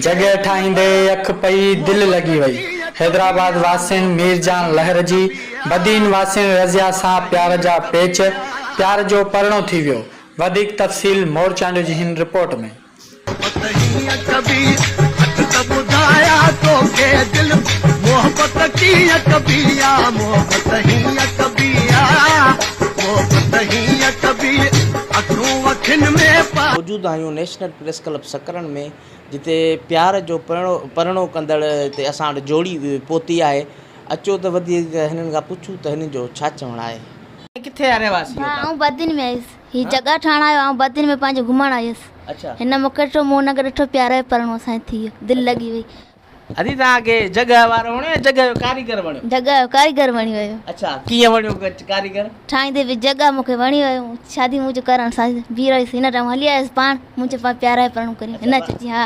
جڳهه ٺاهيندي اک پئي دل لڳي وئي. حيدرآباد واسين مير جان لهر جي، بدين واسين رضيه سان پيار جا پيچ، پيار جو پرڻو ٿي ويو. وڌيڪ تفصيل مورچانڊيو جي هن رپورٽ ۾. موجود آهيون نيشنل پريس ڪلب سڪرن ۾ جتي پيار جو پرڻو ڪندڙ هتي اسان وٽ جوڙي پهتي آهي اچو ته وڌيڪ هنن کان پڇون ته هنن جو ڇا چوڻ آهي. ڀاء آئون بدين ۾ آيس. هي جڳهه ٺاهڻ آيو آئون بدين ۾ پنهنجي گهمڻ آئي هيس هن مون کي ڏٺو مون هن کي ڏٺو پيار جو پرڻو اسان جي ٿي ويو دل لڳي وئي. ادي توهان کي جڳهه وارو وڻيو يا جڳهه جو ڪاريگر وڻيو. جڳهه جو ڪاريگر وڻي ويو. اڇا ڪيئن وڻيو ڪاريگر. ٺاهيندي به جڳهه مون کي وڻي ويو شادي مون جو ڪرڻ ساجد بيهي رهيس هن ٽائيم هلي آيس پاڻ مون چيو پاڻ پيار جو پرڻو ڪريون هن چيو ها.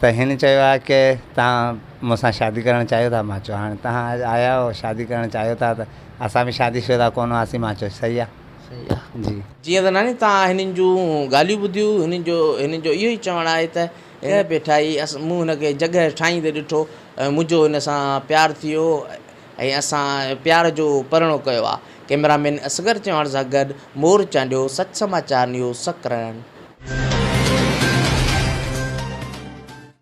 ته هن چيو آهي ڪي تهان مون سان شادي ڪرڻ چاهيو ٿا مان چيو هاڻي تهان اڄ آيا آهيو شادي ڪرڻ چاهيو ٿا ته اسان به شادي شده ڪونه هئاسين مان چيو صحيح آهي صحيح آهي جي جيئن ته ناني تهان هنن جون ڳالهيون ٻڌيون هنن جو هنن جو اهو ئي چوڻ آهي ته هن پيٺائي مون هن کي جڳهه ٺاهيندي ڏٺو ۽ منهنجو هن سان پيار ٿي ويو ۽ اسان پيار جو پرڻو ڪيو آ. ڪئميرا مين اصغر چوهاڻ سان گڏ مور چانڊيو، سچ سماء چار نيوز، سڪرنڊ.